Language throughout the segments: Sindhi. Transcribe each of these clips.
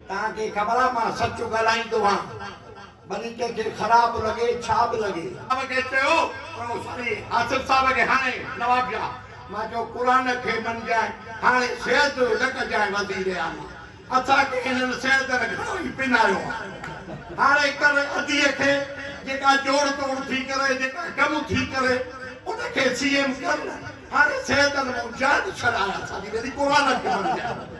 تان کي خبر آ مان سچ ڳالهائيندو آن ڀلي ڪنهن کي خراب به لڳي ڇا به لڳي. صاحب کي چيو ڪرو سوري آصف صاحب کي هاڻي نواب شاهه مان چيو قرآن کي مڃجانء هاڻي سيد جو نه ڪجانء وزير اعليٰ اسان کي هنن سيدن گهڻو ئي پنايو آ هاڻي ڪر اديء کي جيڪا جوڙ توڙ ٿي ڪري جيڪا ڪم ٿي ڪري ان کي سي ايم ڪر نه هاڻي سيدن مون جان ڇڏايا ساڳي ڀيري قرآن کي مڃجانء.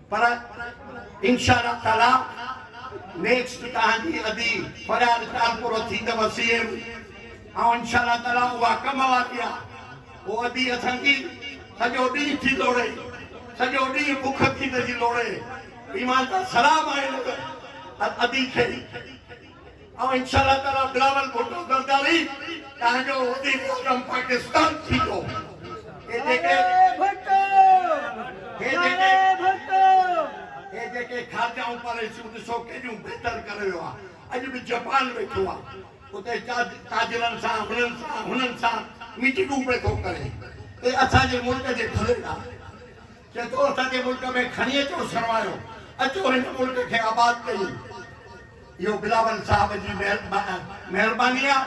پر انشاء الله تعالي نيڪسٽ تهان جي ادي فرياد ڪال پورو ٿيندو سي ايم ۽ انشاء الله تعالي اها ڪم واري آ او ادي اسان جي سڄو ڏينهن ٿي لوڙي سڄو ڏينهن بک ٿي ته جي لوڙي ايمان دا سلام آهي ادي کي. ۽ انشاء الله تعاليٰ بلاول ڀٽو زرداري تنهن جو وزير اعظم پاڪستان ٿيندو. هي جيڪي هي جيڪي هي جيڪي خارجه ۽ پاليسيون ڏسو ڪيڏيون بهتر ڪري ويو آهي. اڄ به جپان ويٺو آهي. اتي تاجرن سان هنن سان هنن سان ميٽنگون پئي ٿو ڪري. اهي اسان جي ملڪ جي ڦليل آهن. چئي ٿو اسان جي ملڪ ۾ کڻي اچو سرمايو، اچو هن ملڪ کي آباد ڪيون. اهو بلاول صاحب جي مهرباني آ،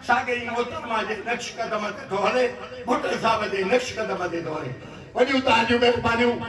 ساڳئي محترمه جي نقش قدم تي ٿو هلي، ڀٽو صاحب جي نقش قدم تي ٿو هلي. وڏيون تهانجون مهربانيون.